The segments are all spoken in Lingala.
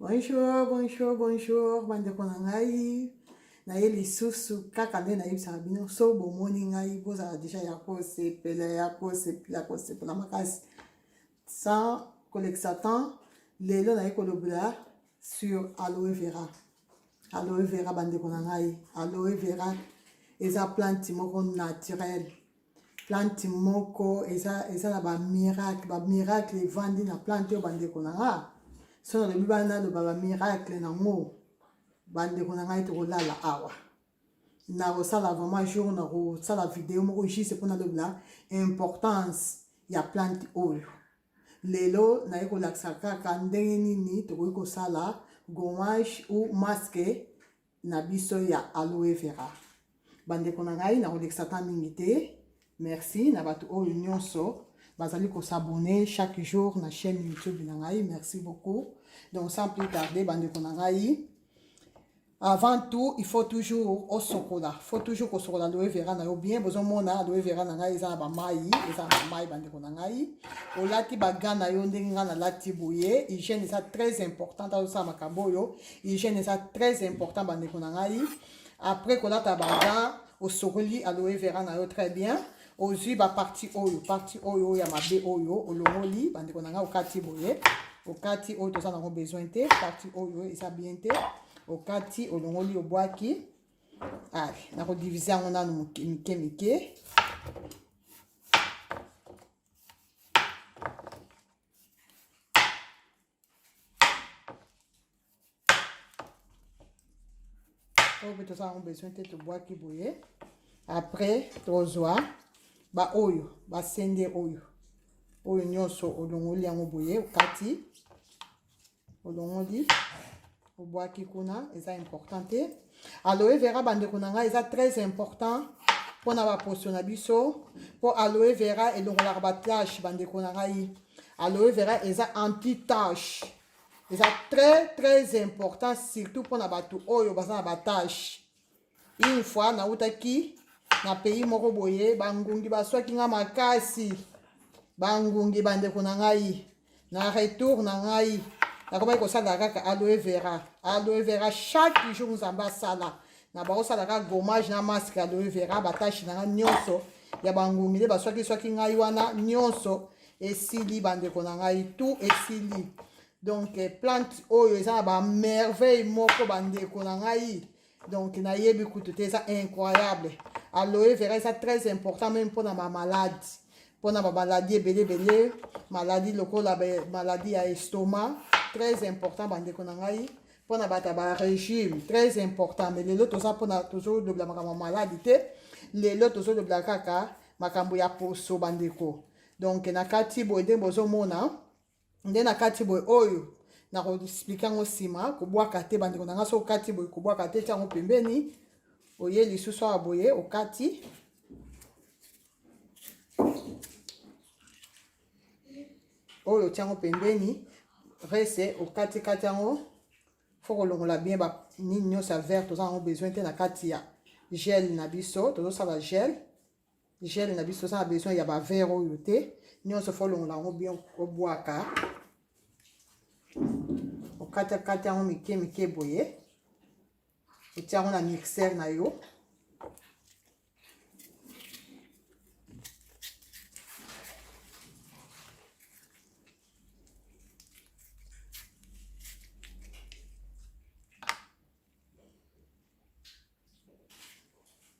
Bonjour, bonjour, bonjour, bandeko na ngai. naye lisusu kaka nde nayebisaka bino so bomoni ngai bozala deja ya kosepela ya kosepela kosepela makasi sans kolekisa temps lelo naye kolobela sur aloe vera aloe vera bandeko na ngai aloe vera eza plante moko naturelle plante moko eza eza na ba miracle ba miracle evandi na plante oyo bandeko na nga so nalobi bana naloba ba miracle nango bandeko na ngai tokolala awa nakosala vraiment jour nakosala video moko juste mpo nalobela importance ya plante oyo lelo naye kolakisa kaka ndenge nini tokoki kosala gommage ou masque na biso ya aloe vera bandeko na ngai nakolekisa ta mingi te merci na bato oyo nyonso bazali kosabone chaque jour na chaîne youtube na ngai merci beaucoup donc sans plus tarder bandeko na ngai avant tout il faut toujours osokola faut toujours kosokola aloe vera na yo bien bozomona aloe vera na ngai eza na bamai eza na bamai bandeko na ngai olati baga na yo ndenge ngai nalati boye hygiène eza très importante azosala makambo oyo hygiène eza très important bandeko na ngai après kolata baga osokoli aloe vera na yo très bien ozwi baparti oyo parti oyo oyo ya mabe oyo olongoli bandeko na ngai okati boye okati oyo toza nango besoin te parti oyo eza bien te okati olongoli obwaki ale nakodivise yango nanu mike mike, mike. oyo toza yango besoin te tobwaki boye après tozwa baoyo basende oyo oyo nyonso olongoli yango boye okati olongoli obwaki kuna eza important te aloe vera bandeko na ngai eza très important mpo na baposo na biso mpo aloe vera elongolaka batache bandeko na ngai aloe vera eza anti tache eza très très important surtout mpo na bato oyo baza na batache une fois nautaki na pays moko boye bangungi baswaki nga makasi bangungi bandeko na ngai na retour na ngai nakomaki kosala kaka aloe vera aloe vera chaque jour nzambe asala na bakosala kaka gommage na masque aloe vera batashi na ngai nyonso ya bangungi nde baswakiswaki ngai wana nyonso esili bandeko na ngai tout esili donc eh, plante oyo eza na bamerveille moko bandeko na ngai donc nayebi kutu te eza incroyable aloe vera eza très important meme mpona bamaladi mpona bamaladi ebele ebele maladi lokola maladi ya estoma très important bandeko na ngai mpona bato ya barégime très important mais lelo toza mpona tozolobela makambo ya maladi te lelo tozolobela kaka makambo ya poso bandeko donc na kati boye nde bozomona nde na kati boye oyo nakoexplike yango nsima kobwaka te bandeko na ngai so okati boye kobwaka te tyango pembeni oye lisusu awa boye okati oyo otyango pembeni rese okatikati yango fo kolongola bien banini nyonso ya vert toza yango besoin te na kati ya gel na biso tozosala gel gel na biso oza na besoin ya bavere oyo te nyonso fo olongola yango bien obwaka okatakata yango mike mike boye otia yango na mixer na yo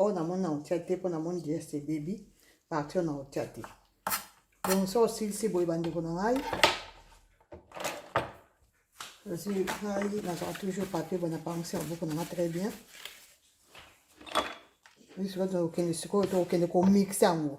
oyo namoni na otia te mpo namoni deste ebebi parti oyo na otia te donc so osilisi boye bandeko na ngai nazwi ngai nazala toujours papier bona panse ya buku nanga très bien misika tokende sikoyo tokokende komixe yango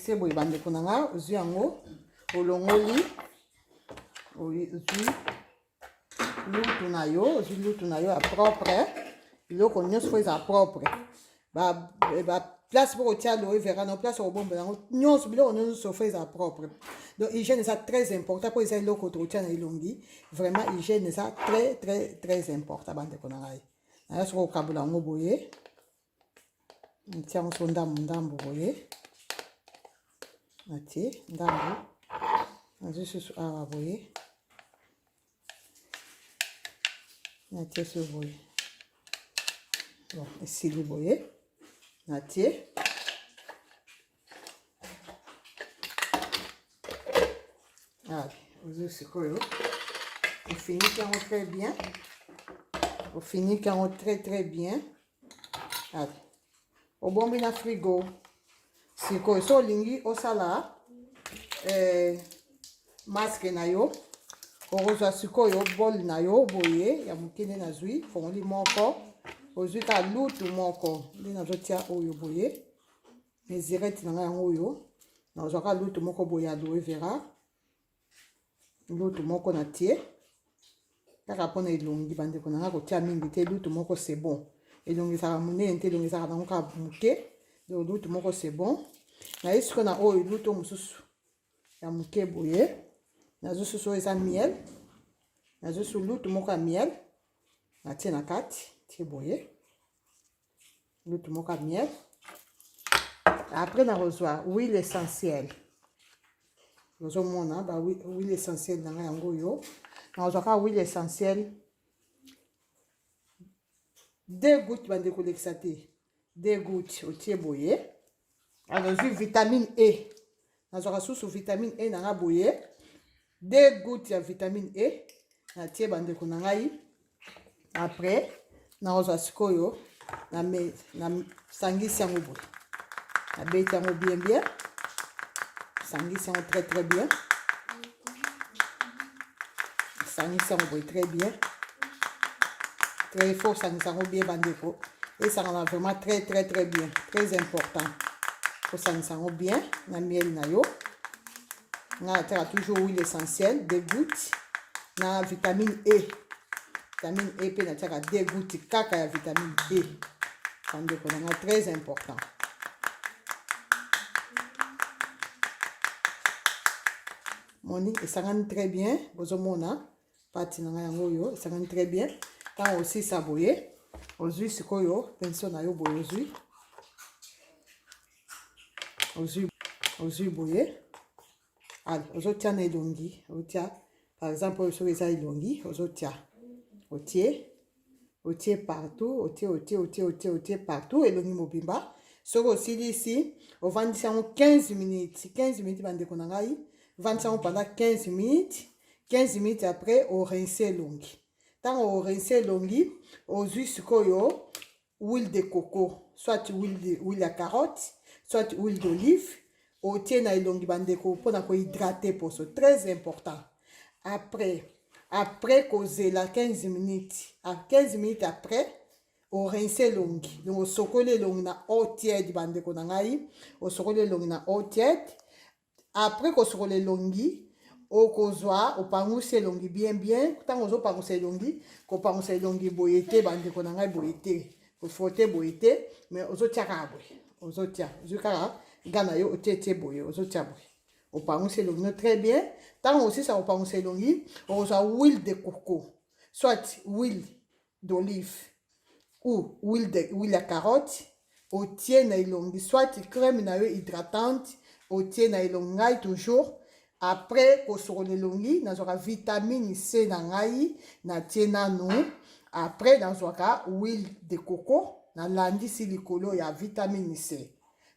se boye bandeko na ngai ozwi yango olongoli ozwi lutu na yo ozwi lutu na yo ya propre biloko nyonso mpo ezala propre baplace mpo kotia loye vera na place okobomba yango nyonso biloko nyonso fo ezala propre donc hygiène eza très important mpo eza eloko tokotia na elongi vraiment hygiène eza très très très important bandeko na ngai nayo soki okabola yango boye natia yango so ndambo ndambo boye natie ndambo nazwi susu awa boye natie so boye bon esili boye natie Ah, ozo sikoyo ofiniki yango très bien ofiniki yango très très bien ah, obombi na frigo sikoyo so olingi osala eh, maske na yo okozwa sikoyo bol na yo boye ya moke nde nazwi fongoli moko ozwi kaka lutu moko nde nazotia oyo boye mezirete na ngai yango oyo nazwaka lutu moko boye ya loe vera lutu moko na tie kaka mpona elongi bandeko na ngai kotia mingi te lutu moko se bon elongi ezalaka monene te elongi ezalaka nango kaka moke donc lutu moko se bon naye sikoyo na oyo lutu mosusu ya moke boye nazo susu oyo eza miel nazo susu lutu moko ya miel natie na kati tie boye lutu moko ya miel après nakozwa huile essentielle nazomona ba huile essentielle na ngai yango oyo nakozwa kaka huile essentielle deux goutte bande kolekisa te deux goutte otie boye nazwi vitamine e nazwaka susu vitamine e na ngai boye de gout ya vitamine e natie bandeko na ngai après nakozwa sikoyo nasangisi yango boye nabeti yango bien bien sangisi yango très très bien sangisa yango boye très bien très fort sangisa yango bien bandeko esangana vraiment très très très bien très important kosangisa yango bien na miel na yo nga nataka toujours huile essentielle de goutte na vitamine e vitamine e mpe natiaka de goutte kaka ya vitamine e bandeko na nga très important moni esangani très bien bozomona pati na ngai yango oyo esangani très bien ntango osisa boye ozwi sikoyo penso na yo boye ozwi ozwi ozwi boye Allez, ozotia na elongi, otia par exemple oyo soki eza elongi, ozotia otie otie partout, otie otie otie otie otie partout elongi mobimba. Soki osilisi, ovandisi yango 15 minutes, 15 minutes bandeko na ngai, vandisa yango pendant 15 minutes, 15 minutes après orince elongi. Ntango orince elongi, ozwi sikoyo huile de coco soit huile, huile ya carotte soit huile d'olive otie na elongi bandeko mpo na kohydrate poso très important après après kozela 15 minutes a 15 minutes après orince elongi donc osokoli elongi na eau tiède bandeko na ngai osokoli elongi na eau tiède Après kosukola elongi, okozwa opangusi elongi bien bien. Ntango ozopangusa elongi, kopangusa elongi boye te, bandeko na ngai boye te, kofrote boye te, mais ozotia kaka boye, ozotia ozwi kaka ga na yo otie tie boye, ozotia boye opangusi elongi no très bien. Ntango osisa kopangusa elongi, okozwa huile de coco soit huile d'olive ou huile de huile ya carotte otie na elongi soit crème na yo hydratante otie na elongi ngai toujours après kosokola elongi nazwaka vitamine c na ngai natie nanu après nazwaka huile de coco nalandisi likolo ya vitamine c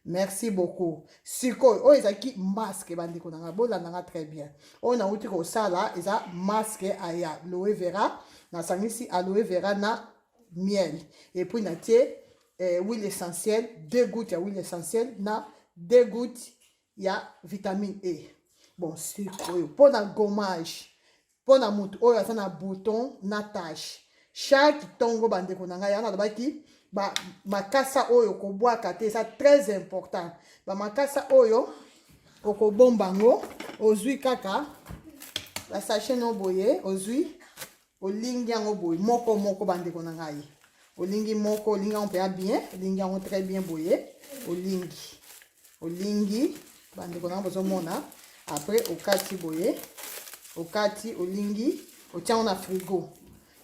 merci beaucoup sikoyo oyo ezalaki masque bandeko na ngai bolanda nga très bien oyo nauti kosala eza masque aya loe vera nasangisi aloe vera na miel epuis natie eh, huile essentielle deux gouttes ya huile essentielle na deux gouttes ya vitamine e bon sikoyo mpo na gommage mpo na moto oyo aza na bouton na tache chaque ntongo bandeko na ngai yango nalobaki bamakasa oyo kobwaka te eza très important bamakasa oyo okobomba yango ozwi kaka basache no boye ozwi olingi yango boye moko moko bandeko na ngai olingi moko olingi yango mpe ya bien olingi yango très bien boye olingi olingi bandeko nanga bozomona après okati boye okati olingi otiango na frigo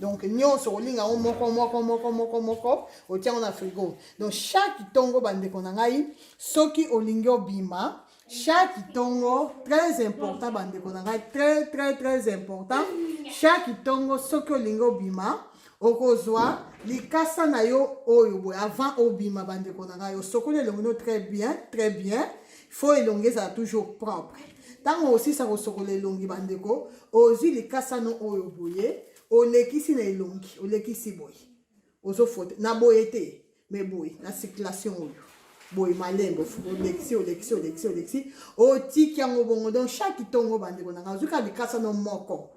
donc nyonso olinga yango moko moko moko moko moko otiango na frigo donc chaque ntongo bandeko na ngai soki olingi obima chaque ntongo très important bandeko na ngai très très très important chaque ntongo soki olingi obima okozwa likasa na yo oyo boye avant obima bandeko na ngai osokoli elongi no très bien très bien fo elongi ezala toujours propre ntango osisa kosokola elongi bandeko ozwi likasa no oyo boye olekisi na elongi olekisi boye ozofote na boye te mais boye na circulation oyo boye malembo olekisi olekisi olekisi olekisi otiki yango bongo donc chaque ntongo bandeko na ngai ozwi kaka likasa no moko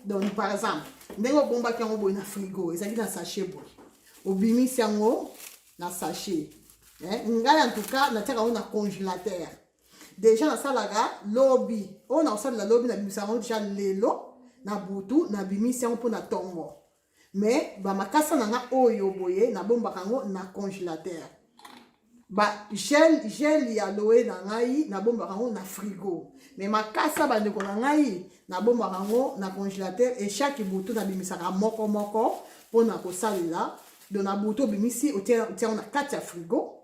donc par exemple ndenge obombaki yango boye na frigo ezalaki na sachet boye obimisi yango na sachet ngai en tout cas natiaka yango na congélateur déjà nasalaka lobi oyo nakosalela lobi nabimisa yango déjà lelo na butu nabimisi yango mpo na ntongo mais ba makasa na nga oyo boye na bombaka yango na congélateur ba gel gel ya loe na ngai na bombaka yango na frigo mais makasa bandeko na ngai na bombaka yango na congélateur et chaque butu na bimisaka moko moko mpona kosalela donc na butu obimisi otia yango na kati ya frigo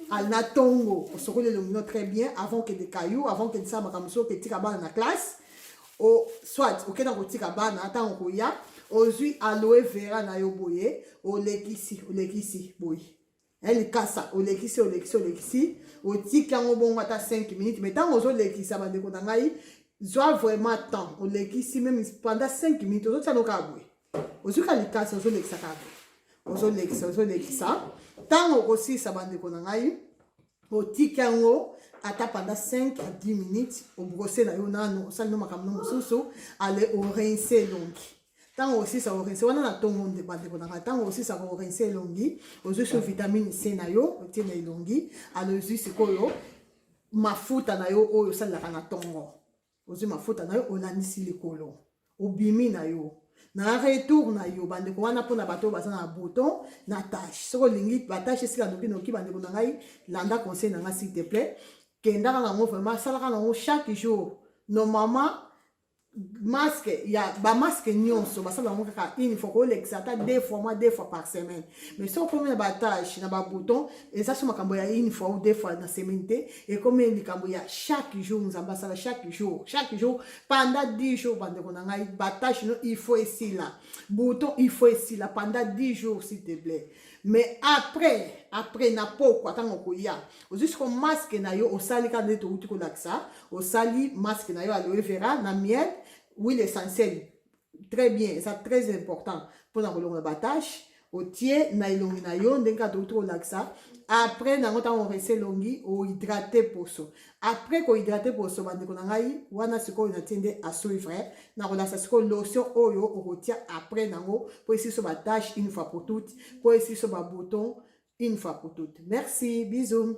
alina ntongo osokoli elongi no très bien avant okende kayu avant okende sala makambo soki oketika bana na classe o soit okenda kotika bana ntango koya ozwi aloe vera na yo boye olekisi olekisi boye eh, likasa olekisi olekisi olekisi otiki yango bongo ata 5 minutes mai ntango ozolekisa bandeko na ngai zwa vraiment temps olekisi meme pendant 5 minutes ozotia no kaka boye ozwi ka likasi ozolekisa kaka ozolekisa ozolekisa ntango okosilisa bandeko na ngai otiki yango ata panda 5 à 10 minutes obrose na yo nano osali no makambo no mosusu ale orince elongi ntango osisa korense wana na ntongo nde bandeko na ngai ntango osisa korense elongi ozwi so vitamine c na yo otie na elongi alozwi sikoyo mafuta na yo oyo osalelaka na ntongo ozwi mafuta na yo olandisi likolo obimi na yo na retour na yo bandeko wana mpona bato oyo baza na bouton na tache soki olingi batache esila nokinoki bandeko na ngai landa conseil na ngai s'il te plaît kendaka nango vraiment asalaka nango chaque jour normalement masque ya bamaske nyonso basala yango kaka une fois kolekisa ata deux fois mwa deux fois par semaine mais soki okomi na batage na babouton eza so makambo ya une fois ou deux fois na semaine te ekomi likambo ya chaque jour nzambe asala chaque jour chaque jour pendant 10 jours bandeko na ngai batage no il faut esila bouton il faut esila pendant 10 jours s'il te plaît mais après après na pokwa ntango okoya ozwi soko maske na yo osali kaka nde touti kolakisa osali maske na yo aloe vera na miel huile essentielle très bien eza très important mpona kolongola batache otie na elongi na yo ndenge kaka tokuti kolakisa après nango ntango orese elongi ohydrate poso après kohydrate poso bandeko na ngai wana sikoyo natie nde asuivre nakolakisa sikoyo lotion oyo okotia après nango mpo esiso batache une fois pour toute mpo esiso babouton une fois pour toute merci bisous